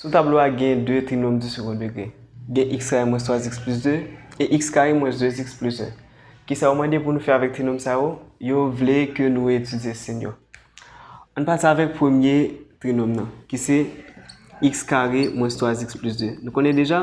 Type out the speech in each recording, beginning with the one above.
Sou tablo a gen 2 trinòm di sekon degre. Gen x kare mwens 3 x plis 2 e x kare mwens 2 x plis 1. Kisa yo mande pou nou fè avèk trinòm sa yo? Yo vle ke nou etidye sin yo. Ann pati avèk premye trinòm nan ki se x kare mwens 3 x plis 2. Nou konnen deja?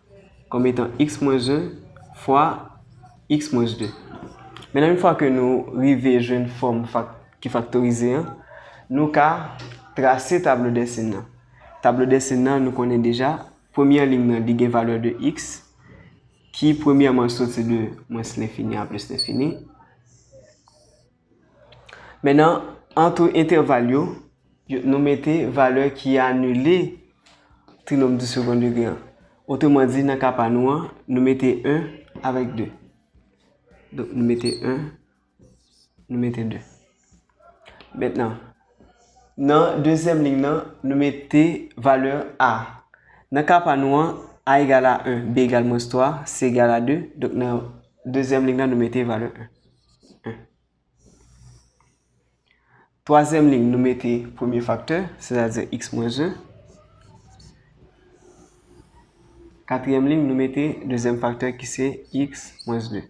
kòm etan x mwens 1 fwa x mwens 2. Mennan yon fwa ke nou rive jwenn fòm ki faktorize an, nou ka trase tablo dèsin nan. Tablo dèsin nan nou konnen deja, premyè liy nan li gen valè de x ki premyèman soti de mwens lenfini a plis lenfini. Men nan antre entèval yo, nou mete valè ki anile trinòm di second degré an. Otreman di, nan ka pa nou an, nou mete 1 avèk 2. Donk, nou mete 1, nou mete 2. Mètnan, nan dezyèm lig nan, nou mete valè a. Nan ka pa nou an, a egal a 1, b egal mwens 3, c egal a 2. Donk, nan dezyèm lig nan, nou mete valè 1. Twazyèm liy nou mete premye faktè, sètadi x mwens 1. Katriyèm liy nou mete dezyèm faktè ki se x mwens 2.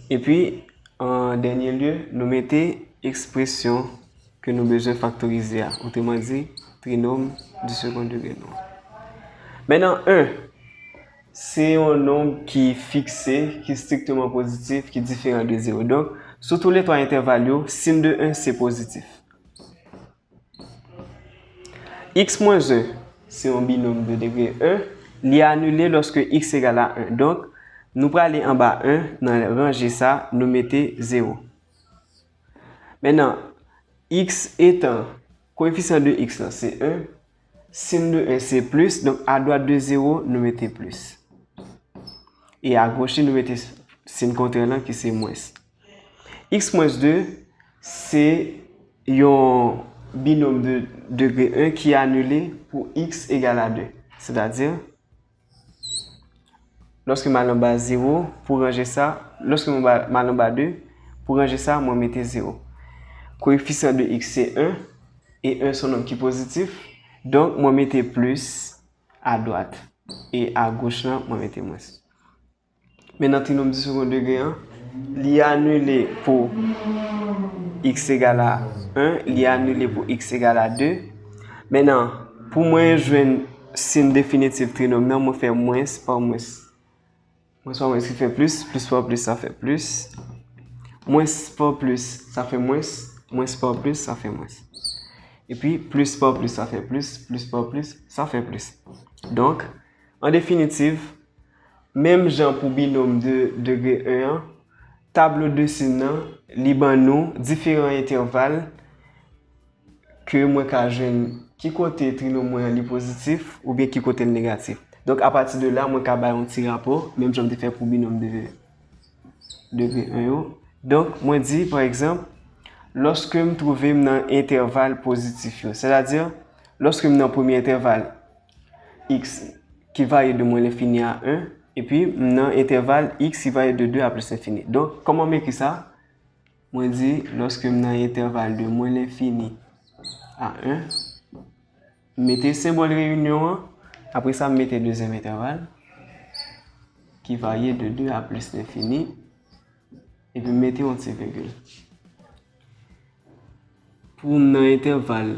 E pi, an dènye lye, nou mete ekspresyon ke nou bezwen faktorize a. Otreman di, trinòm di segonde degre nou an. Mèt nan 1. Se yon nonb ki fikse, ki strikteman pozitif, ki diferan de zewo. Donk, sou tou le twa entèval yo, sin de 1 se pozitif. X mwens 1 se yon binòm de degre 1. Li anile lòske x egal a 1. Donk, nou prale anba 1, nan ranje sa, nou mete zewo. Men nan, x etan koefisyan de x lan se 1, Sin de 1 se plis, donk adwat de 0 nou mete plis. E agoch li nou mete sin kontrè lan ki se mwens. X mwens 2 se yon binom de degre 1 ki anile pou x egal a 2. Sètadi. Lòske m al anba 0, pou ranje sa, lòske m al anba 2, pou ranje sa, mwen mete 0. Koefisyan de x se 1, e 1 son nonm ki pozitif, donk mwen mete plis a dwat, e a goch lan mwen mete mwens. Men nan trinòm di segonn degre an, li anile pou x egal a 1, li anile pou x egal a 2. Men nan, pou mwen jwenn sin definitif trinòm nan, mwen fè mwens pa mwens. Mwens pa mwens ki fè plis, plis pa plis sa fè plis. Mwens pa plis sa fè mwens, mwens pa plis sa fè mwens. E pi, plis pa plis sa fè plis, plis pa plis sa fè plis. Donk, an definitif, Menm jan pou binòm de degre 1 an, tablo de sin nan, li ban nou diferan entèval ke mwen ka jwenn ki kote trinòm mwen an li pozitif oubyen ki kote l negatif. Donk apati de la, mwen ka bay yon ti rapò, menm jan m te fè pou binòm de degre 1 yo. Donk, mwen di, pa egzanp, lòske m twouve m nan entèval pozitif yo, sètadi, lòske m nan premye entèval, X ki varye de mwen lenfini a 1, epi m nan entèval X ki varye de 2 a plis lenfini. Donk, kòman m ekri sa? Mwen di, lòske m nan entèval de mwen lenfini a 1, m mete senbòl reyinyon an, apre sa m mete dezyèm entèval, ki varye de 2 a plis lenfini, epi m mete yon ti vigil. Pou m nan entèval.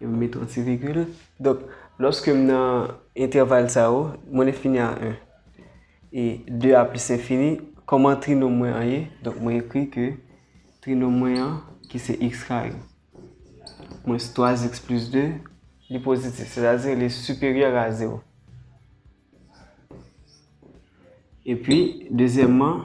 E m met yon ti vigil. Donk, lòske m nan entèval sa yo, mwen enfini a 1. E 2 a plis enfini, kòman trinom mwen an ye? Donk, mwen ekri ke trinom mwen an, ki se x kare, mwens 3x plis 2, li pozitif. Sètadi, li siperyè a 0. E pi, dezyèmman,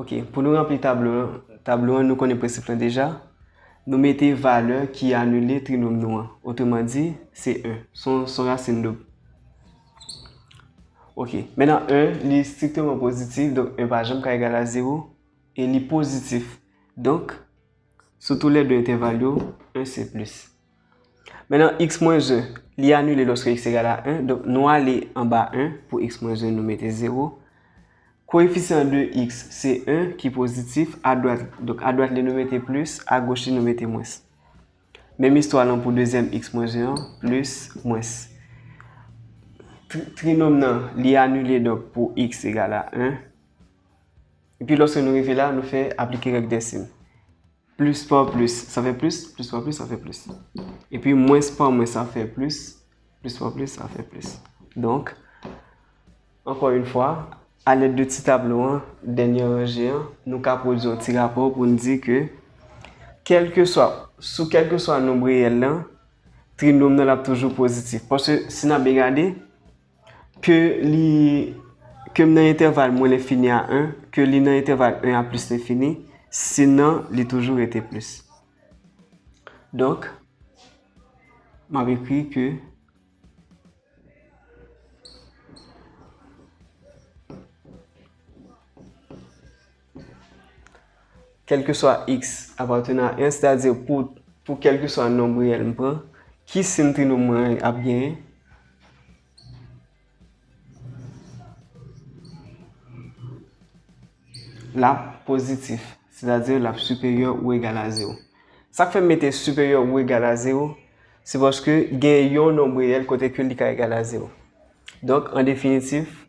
Ok, pou nou ranpli tablo an, nou konnen prensip lan deja. Nou mete valè ki anile trinòm nou an. Otreman di, se 1. Son rasin doub. Ok, menan 1, li strikteman pozitif, donk 1 pa janm ka egal a 0. E li pozitif, donk, sou tou lè 2 entèval yo, 1 se plis. Men nan x mwen 1, li anile lòske x egal a 1, donk nou ale anba 1 pou x mwen 1 nou mete 0. Koefisyan de x se 1 ki pozitif, adwat, donk adwat li nou mete plis, agoch li nou mete mwens. Menm istwa lan pou dezyèm x mwen 1 an, plis, mwens. Trinòm nan, li anile donk pou x egal a 1. Epi lòske nou rive la, nou fè aplike règ dèsim. Plis pa plis, sa fè plis, plis pa plis, sa fè plis. E pi mwens pa mwens, sa fè plis, plis pa plis, sa fè plis. Donk, ankò yon fwa, alèd de ti tablo an, dènye ranje an, nou ka pwodui yon ti rapò pou n di ke kèlke swa, sou kèlke swa nonb reyèl lan, trinòm nan l ap toujou pozitif. Paske, si n ap byen gade, Ke li Ke m nan entèval mwen lenfini a 1, ke li nan entèval 1 a plis lenfini, si nan li toujou rete plis. Donk, m ap ekri ke Kèlkeswa x apatene a 1, sètadi pou kèlkeswa nonb reyèl m pran, ki sin trinom mwen an ap genyen? L ap pozitif, sètadi l ap siperyè ou egal a zewo. Sa k fè m mete siperyè ou egal a zewo, se paske gen yon nonb reyèl kote ke li ka egal a zewo. Donk, an definitif,